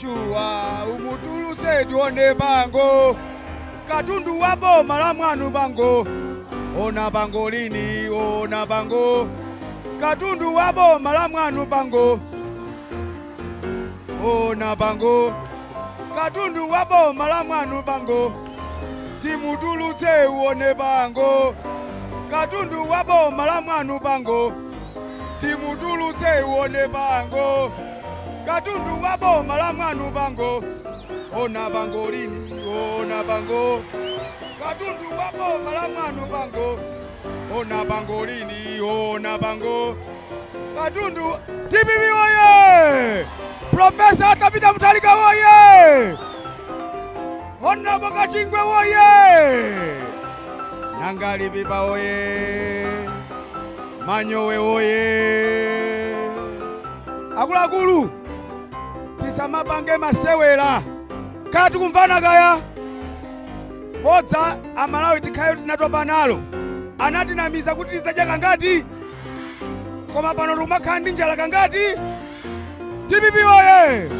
shuwa umutuluse tione bango katundu wa boma la mwanu bango ona bango lini ona bango katundu wa boma la mwanu bango ona bango katundu wa boma la mwanu bango timutulutse uone bango katundu wa boma la mwanu bango timutulutse uone bango katundu wa boma la mwanu bango ona bango lini ona bango katundu wa boma la mwanu bango ona bango lini ona bango katundu TPP woye profesa atapita mtalika woye ona boka chingwe woye nangalipipa woye Manyowe woyee! Akuluakulu tisamapange masewera kodi tikumvana kaya? Bodza amalawi tikhayo tinatopa nalo. Anatinamiza kuti tidzadya kangati? Koma pano tikumakhala ndi njala kangati? Dpp woyee!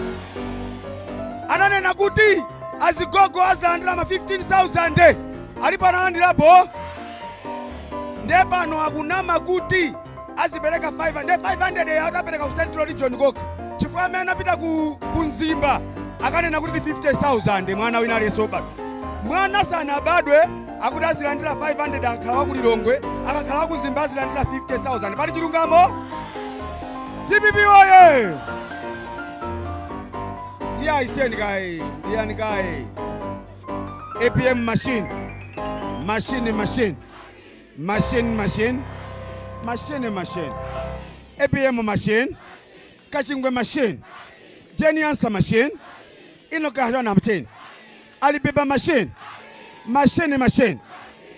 Ananena kuti azigogo azalandira ma 15,000 alipo analandirapo? nde pano akunama kuti azipereka 500 nde 500 ya atapereka ku central region kokha chifukwa amene anapita ku mzimba akanena kuti ndi 50000 mwana wina aliyense obadwa mwana sanabadwe akuti azilandira 500 akakhala wa ku lilongwe akakhala wa ku mzimba azilandira 50000 pali chilungamo dpp woyee yayi siyani kaye siyani kaye APM machine. Machine, machine. Machine, machine. Machine, machine. APM machine. Kachingwe machine. Jenny Ansah machine. Inoka Harana machine. Alibeba machine. Machine, machine.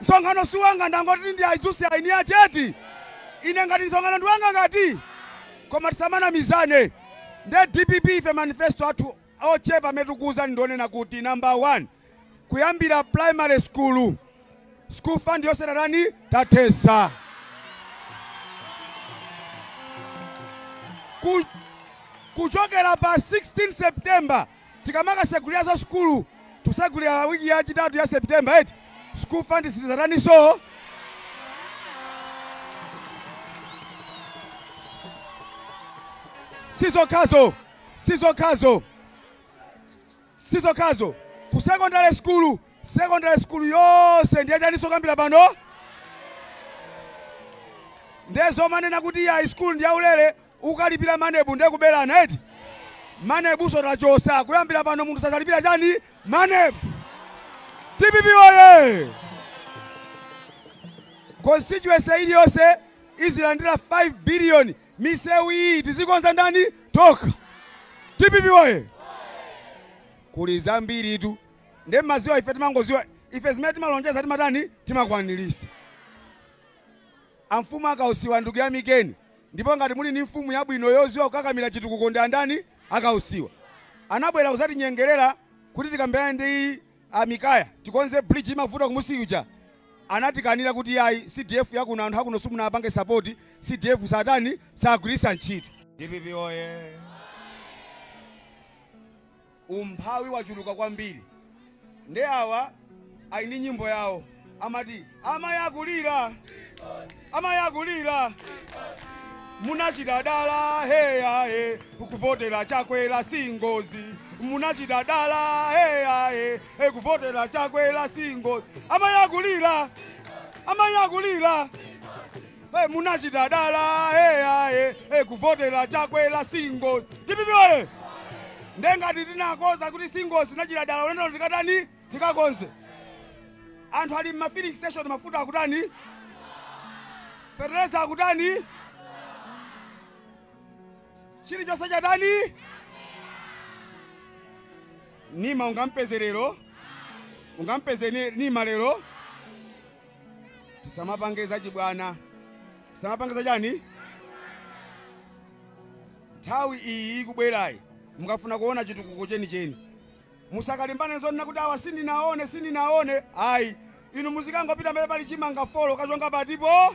Msonkhano si wanga, ndangoti ndi a Idzusi eniache eti? Ine ngati msonkhano ndi wanga ngati? Koma tisamanamizane. Nde dpp ife manifesto athu ochepa amene tikukuuzani ndi onena kuti, number one, kuyambira primary school, school fund yonse tatani? Tathesa. Ku, kuchokera pa 16 September Tikamakatseguliranso sukulu titsegulira week ya chitatu ya September eti school fund sidzataniso? Sizokhazo, sizokhazo, sizokhazo ku secondary school, secondary school yonse ndiye chaniso kuyambira pano ndezomanena kuti yayi school ndi yaulere Ukalipila maneb nde kubelana eti? Manebso tachosa kuyambila pano munthu sazalipila chani? Maneb! Dpp woyee! Constituency iliyose izilandila 5 billion misewu iyi tizikonza ndani? Tokha! Dpp woyee! Kuli zambiritu nde mmaziwa ife timangoziwa ife zimene timalonjeza timatani timakwanilisa. Amfumu a Kausiwa ndikuyamikeni Ndipo ngati muli ndi mfumu yabwino yoziwa kukakamira chitukuko ndi andani? A Kausiwa. Anabwera kuzatinyengelera kuti tikambirane ndi a Mikaya tikonze bridge imavuta kumusi ija. Anatikanira kuti yayi CDF yakuno anthu akuno simunawapange support, CDF satani? Sagwirisa ntchito. Dpp woyee! umphawi wachuluka kwambiri nde awa ali ndi nyimbo yawo amati amayi akulira amayi akulira munachita dala heyahe kuvotera chakwera si ngozi munachita dala heyahe kuvotera chakwera si ngozi amayi akulira amayi akulira Hey, munachita dala hey, hey, hey, kuvotera chakwera si ngozi DPP woye nde ngati tinakonza kuti si ngozi munachita dala ulendo uno tikatani tikakonze anthu ali mma filling station mafuta akutani fertilizer akutani chilichonse chatani nima ungampeze lero ungampeze ni- nima lero tisamapange zachibwana tisamapange zachani nthawi iyi ikubwerayi mukafuna kuona chitukuko chenicheni musakalimbane zonena kuti awa sindinaone sindinaone ayi inu muzikangopita mbee pali chimanga folo kachonge patipo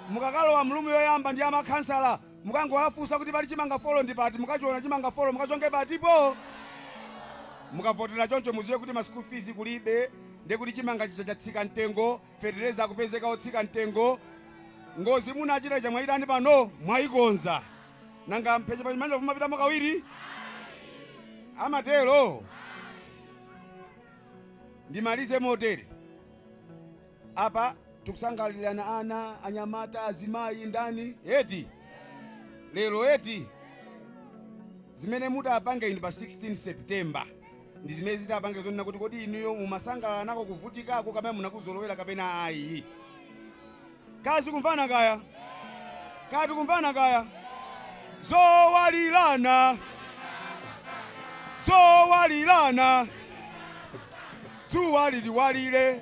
mukakalowa mu room yoyamba ndi ya makhansala Mukangowafunsa kuti pali chimanga folo ndi pati, mukachiona chimanga folo mukachonge patipo! Mukavotera choncho muziwe kuti ma school fees kulibe ndiye kuti chimanga chija chatsika mtengo, fetereza akupezeka otsika mtengo, ngozi munachita ija mwaitani pano? Mwaikonza? Nanga mphechepeche mwa njovu mumapitamo kawiri? Amatero? Ndimalize motere. Apa tikusangalirana ana, anyamata, azimayi, ndani eti lero eti zimene mutapange inu pa 16 September ndi zimene zitapange zonena kuti kodi inuyo mumasangalala nako kuvutikako kapena munakuzolowera kapena ayi. Kaya tikumvana kaya kaya tikumvana kaya zowalirana zowalirana dzuwa liliwalire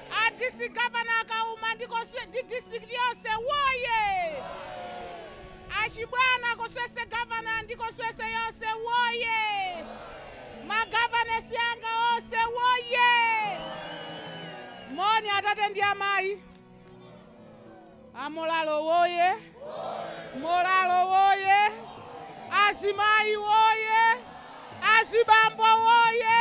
A district Governor a Kauma ndi district yonse woyee! A Chibwana constituency governor ndi constituency yonse woyee! Ma governors anga onse woyee! Moni atate ndi amayi. A Mlhako woye! Mlhako woye! Azimayi woye! Azibambo woye!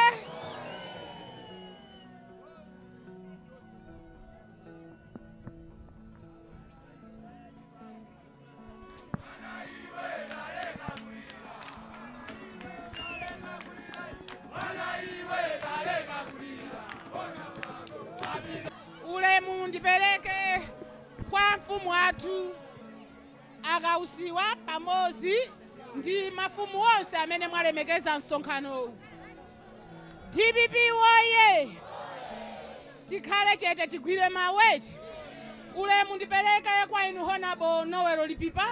ulemu ndipereke kwa mfumu athu a Kausiwa pamodzi ndi mafumu onse amene mwalemekeza msonkhanowu dpp woye tikhale chete tigwire mawu ete ulemu ndipereke kwa inu honabo Noel Lipipa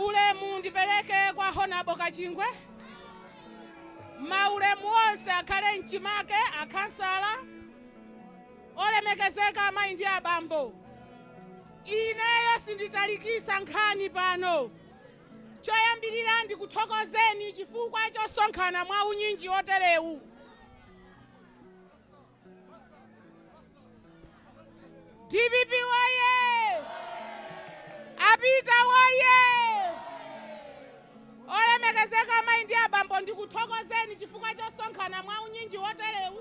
ulemu ndipereke kwa honabo kachingwe maulemu onse akhale mchimake akhansala olemekezeka amayi ndi abambo ineyo sinditalikisa nkhani pano Choyambirira ndikuthokozeni chifukwa chosonkhana mwa unyinji oterewu. Dpp woye! Apita woye! Olemekezeka amayi ndi abambo ndikuthokozeni chifukwa chosonkhana mwa unyinji oterewu.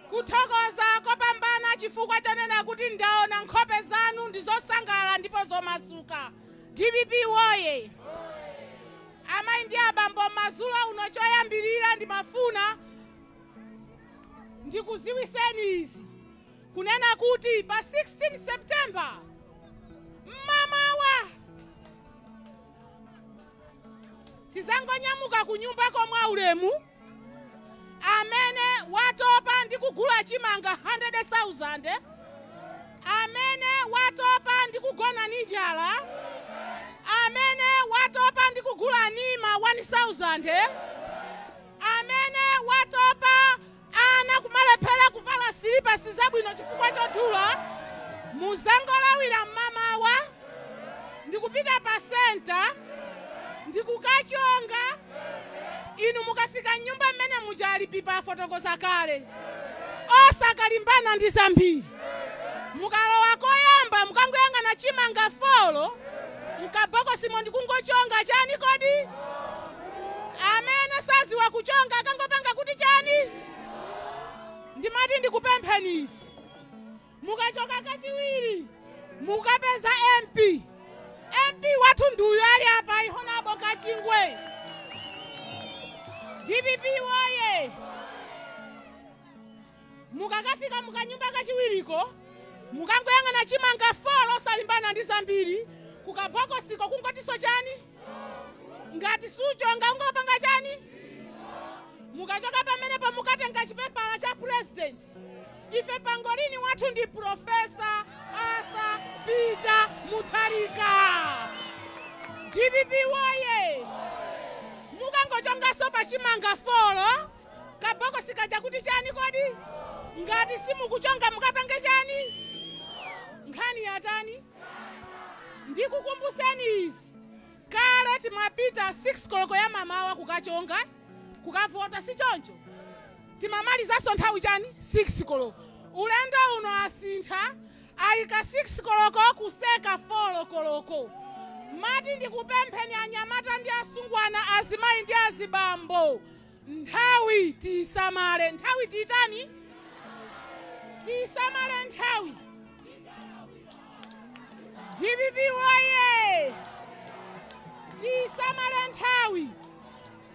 kuthokoza kopambana chifukwa chonena kuti ndaona nkhope zanu ndi zosangalala ndipo zomasuka dpp woye amayi ndi abambo madzulo uno choyambirira ndimafuna ndikuziwiseni izi kunena kuti pa 16 september tizangonyamuka kunyumbako mwaulemu amene watopa ndi kugula chimanga 100,000 amene watopa ndi kugona ni njala amene watopa ndi kugula nima 1000 amene watopa Ana kumalephera kuvala silipasi zabwino chifukwa chodula, muzangolawira mmamawa ndikupita pa centre ndikukachonga, inu mukafika mnyumba mmene muja a Lipipa afotokoza kale, osakalimbana ndi zambiri, mukalowa koyamba mukangoyang'ana chimanga folo mkabokosimo ndikungochonga chani kodi? Amene saziwa kuchonga akangopanga kuti chani? Ndimati ndikupempheni izi mukachoka kachiwiri mukapeza MP. MP wathu ndi uyu ali apa Honabo Kachingwe. Dpp woye! Mukakafika mukanyumba kachiwiriko, mukangoyang'ana chimanga folo osalimbana ndi zambiri kukabokosiko kungotiso chani ngati suchonga ungopanga chani mukachoka pamenepo mukatenga chipepala cha president ife pangolini wathu ndi profesa arthur peter mutharika dpp woye mukangochongaso pa chimanga folo Kabokosi kaja kuti chani kodi? Ngati simukuchonga mukapange chani? Nkhani yatani? Ndikukumbuseni izi, kale timapita 6 koloko ya mamawa kukachonga, kukavota si choncho? Timamalizanso nthawi chani? 6 koloko. Ulendo uno asintha ayika 6 koloko kutseka folo koloko. Mati ndikupempheni anyamata ndi asungwana, azimayi ndi azibambo. Nthawi tiisamale. Nthawi tiitani? Tiisamale nthawi. Dpp woyee! Tiisamale nthawi.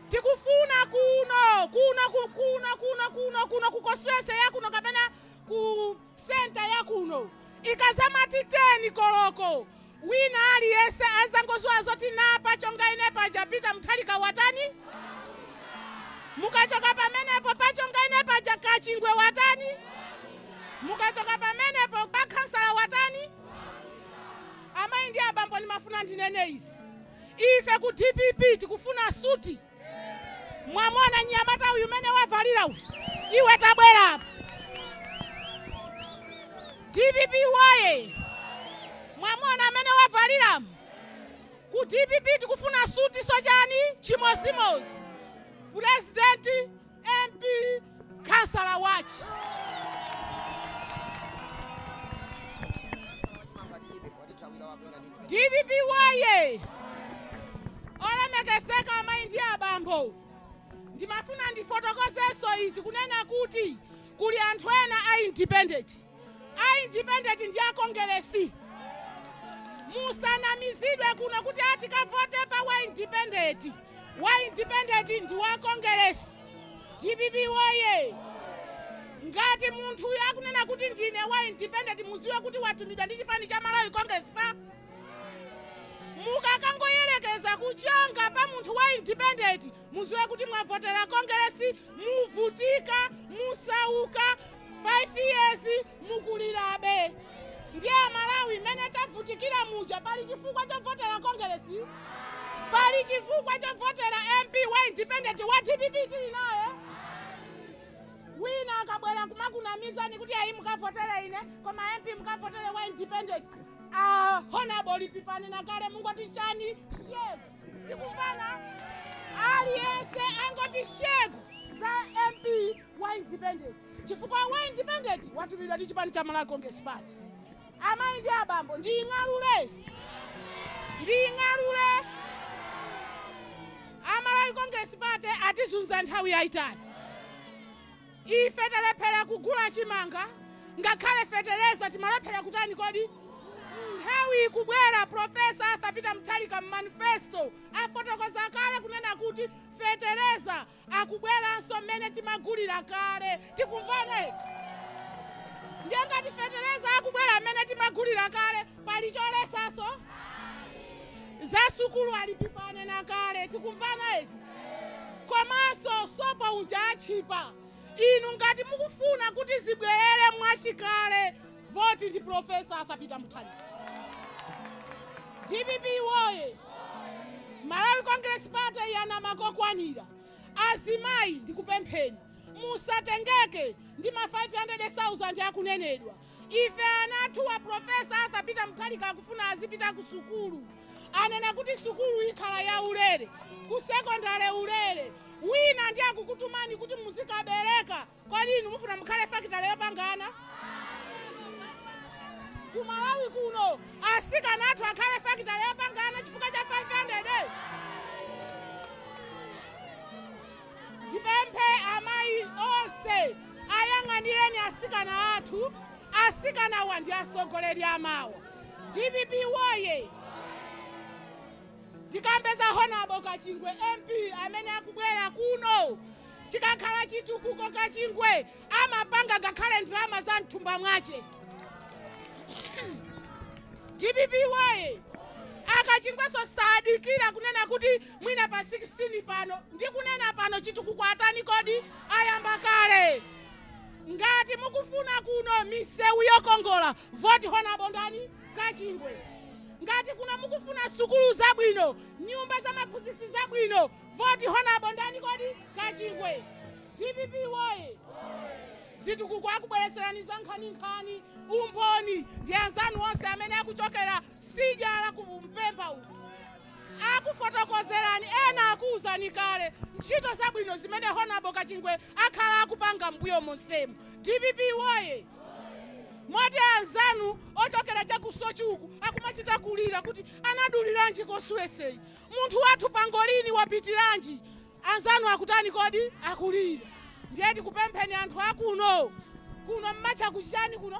Tikufuna kuno, kuno, kuno, kuno, ku constituency ya kuno kapena ku Centre ya kuno. Ikazamati 10 koloko wina aliyense azangodziwa zoti pa chonga ine paja Peter Mutharika watani? Mukachoka pamenepo pa chonga ine paja Kachingwe watani? Mukachoka pamenepo pa khansala watani? Amayi ndi abambo ndimafuna ndinene izi. Ife ku dpp tikufuna suti. Mwamuona mnyamata uyu mmene wavalira uyu, iwe tabwera apa. DPP woye! Mwamuona mmene wavalira ku DPP tikufuna suti si choncho chimozimozi. Pulezidenti MP Khansala Watch. dpp woye olemekezeka amayi ndi abambo ndimafuna ndifotokozenso izi kunena kuti kuli anthu ena a independent a independent ndi a kongeresi musanamizidwe kuno kuti ati kavote pa wa independent wa independent ndi wa kongeresi dpp woye ngati munthu uyu akunena kuti ndine wa independent muziwe kuti watumidwa ndi chipani cha malawi congress party mukakangoyerekeza kuchonga pa munthu wa independent muziwe kuti mwavotera kongeresi muvutika musauka 5 years mukulirabe ndiye amalawi mmene tavutikira muja pali chifukwa chovotera kongeresi pali chifukwa chovotera mp wa independent wa dpp tili naye wina akabwera kumakunamizani kuti ayi mukavotere ine koma mp mukavotere wa independent ah, honorable lipipani nakale mungoti chani yes. tikumvana aliyense angoti shegu za mp wa independent chifukwa wa independent watumidwa ndi chipani cha malawi congress party amayi ndi abambo ndiying'alule ndiying'alule amalawi congress party atizunza nthawi yayitali Ife talephera kugula chimanga ngakhale fetereza timalephera kutani kodi? Nthawi ikubwera Prof. Arthur Peter Mutharika m'manifesto afotokoza kale kunena kuti fetereza akubweranso mmene timagulira kale. Tikumvana eti? Ndiye ngati fetereza akubwera mmene timagulira kale, pali cholesaso za sukulu a dpp anena kale tikumvana eti komanso sopa uja atchipa inu ngati mukufuna kuti zibwerere mwachikale voti ndi profesa arthur peter mutharika dpp woye malawi congress party yanama kokwanira azimayi ndikupempheni musatengeke ndi ma 500,000 akunenedwa Ife ana athu a Prof. Arthur Peter Mutharika akufuna azipita ku sukulu. Anena kuti sukulu ikhala ya ulere, ku sekondale ulere. Wina ndiye akukutumani kuti muzikabereka. Kodi inu mufuna mukhale fakitale yopanga ana? Ku Malawi kuno asikana athu akhale fakitale yopanga ana chifukwa cha 500? Ndipemphe amayi onse ayang'anireni asikana athu, asikanawa ndi asogoleri amawa. Dpp woye! Ndikambe za Honabo Kachingwe MP amene akubwera kuno, chikakhala chitukuko Kachingwe amapanga ngakhale ndalama za mthumba mwache. Dpp woye! A Kachingweso sadikira kunena kuti mwina pa 16 pano ndikunena pano chitukuko atani kodi ayamba kale ngati mukufuna kuno misewu yokongola voti honabo ndani kachingwe ngati kuno mukufuna sukulu zabwino nyumba za maphunzitsi zabwino voti honabo ndani kodi kachingwe dpp woye zitukuko akubwereserani za nkhaninkhani umboni ndi anzanu onse amene akuchokera Sidya la ku Mpemba uku akufotokozerani ena akuuzani kale ntchito zabwino zimene Hon Kachingwe akhala akupanga m'mbuyo monsemu. Dpp woye! Moti anzanu ochokera cha ku Soche uku akumachita kulira kuti anaduliranji constituency-yi. Munthu wathu pangolini wapitiranji? Anzanu akutani kodi? Akulira. Ndiye tikupempheni anthu akuno, kuno mumatcha ku chani kuno?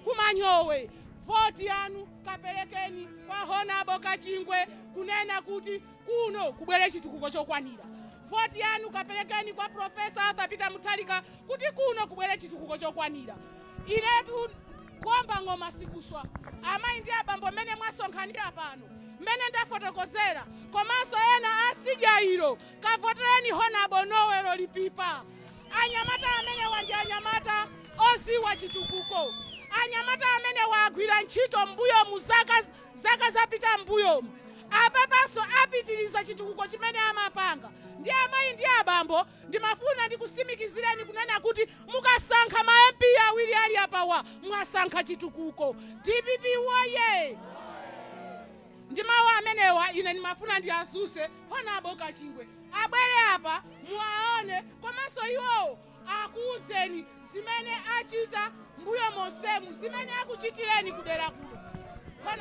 Ku Manyowe. Voti yanu kaperekeni kwa Honable Kachingwe kunena kuti kuno kubwere chitukuko chokwanira. Voti yanu kaperekeni kwa Prof. Arthur Peter Mutharika kuti kuno kubwere chitukuko chokwanira. Inetu. Kuomba ng'oma sikuswa. Amayi ndi abambo mmene mwasonkhanira pano, mmene ndafotokozera komanso ena a nsidya ilo, kavotereni Hon'ble Noel Lipipa. Anyamata amenewa ndi anyamata oziwa chitukuko. Anyamata amenewa agwira ntchito m'mbuyomu zaka zapita m'mbuyomu. Apapanso apitiriza chitukuko chimene amapanga ndi amayi ndi abambo Ndimafuna ndikusimikizireni kunena kuti mukasankha ma MP awiri ali apawa mwasankha chitukuko. DPP woyee! Ndi mawu amenewa ine ndimafuna ndiadzutse Hon. Kachingwe abwere apa muwaone komanso iwowo akuuzeni zimene achita mbuyo monsemu, zimene akuchitireni kudera kuno. Hon.